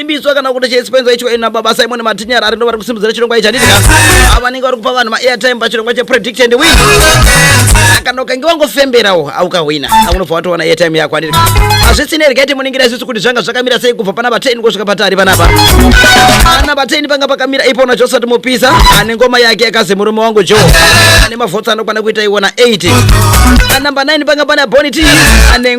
Imbiswa kana kuti cheispenza icho ina baba Simon Matinyara ari ndovari kusimudzira chirongwa ichi handitika ava vanenge vari kupa vanhu maairtime pachirongwa chepredict and win kana ukange wangofemberawo aukahwina aunobva watowana airtime yako handitika hazvisine rega iti muningira isusu kuti zvanga zvakamira sei kubva pana vateni kusvika patari panapa ana vateni panga pakamira ipona josati mupisa ane ngoma yake yakazi murume wangu jo ane mavhotsi anokwana kuita iwona 8 anamba 9 panga pana boniti ane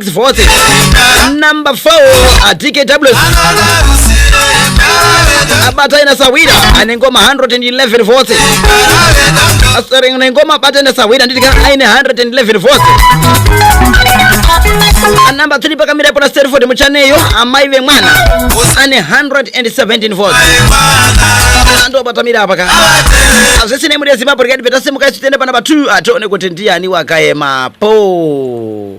vote number 4 atike tables abata ina sahwira ane ngoma 111 votes asere ine ngoma abata ina sahwira nditika aine 111 votes anamba 3 pakamira pona sterford muchaneyo amai vemwana ane 117 votes andobatamira apa ka azvisinei muri yezimbabwe rikati petasimuka isu tiende pana pa 2 atione kuti ndiani wakaemapo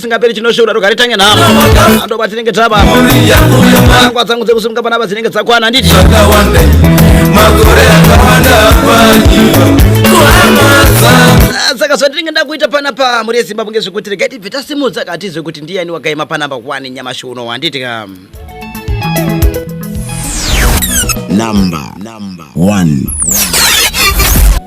singaperi chinoshura rogari tange nhamo andoba tinenge taba angwa dzangu dzekusimuka panapa dzinenge dzakwana handiti Ah, saka zvandinenge ndakuita panapa mhuri yezimbabwe ngezvekuti regai tibve tasimudza katizve kuti ndiyani wakaima panamba 1 nyamashi uno handiti ka Number one.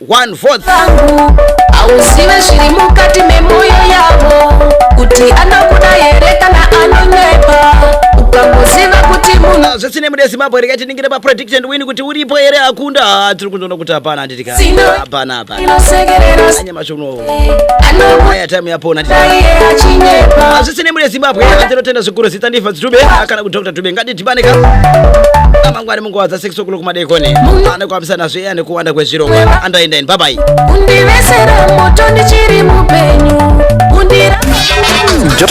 one vote vangu hauzive zviri mukati memoyo yavo kuti anokuda here kana anonyepa ukangoziva kuti munhu Ah, zvisine mude zimbabwe rega tiningire paprediction win kuti uripo here akunda Ah, tiri kundoona kuti hapana handiti ka Sino. hapana hapana inosekerera anyamashi unowo anokuda aya time yapona titi iye achinyepa hazvisine mune zimbabwe tinotenda zvikuru zita ndifa dzitube kana kudr tube ngatidhibane ka amangwani munguva dza 6 o'clock madekoni anokwamisa nazve eya nekuwanda kwezvirongwa andoenda ini bye bye undivesera moto ndichiri mupenyu undira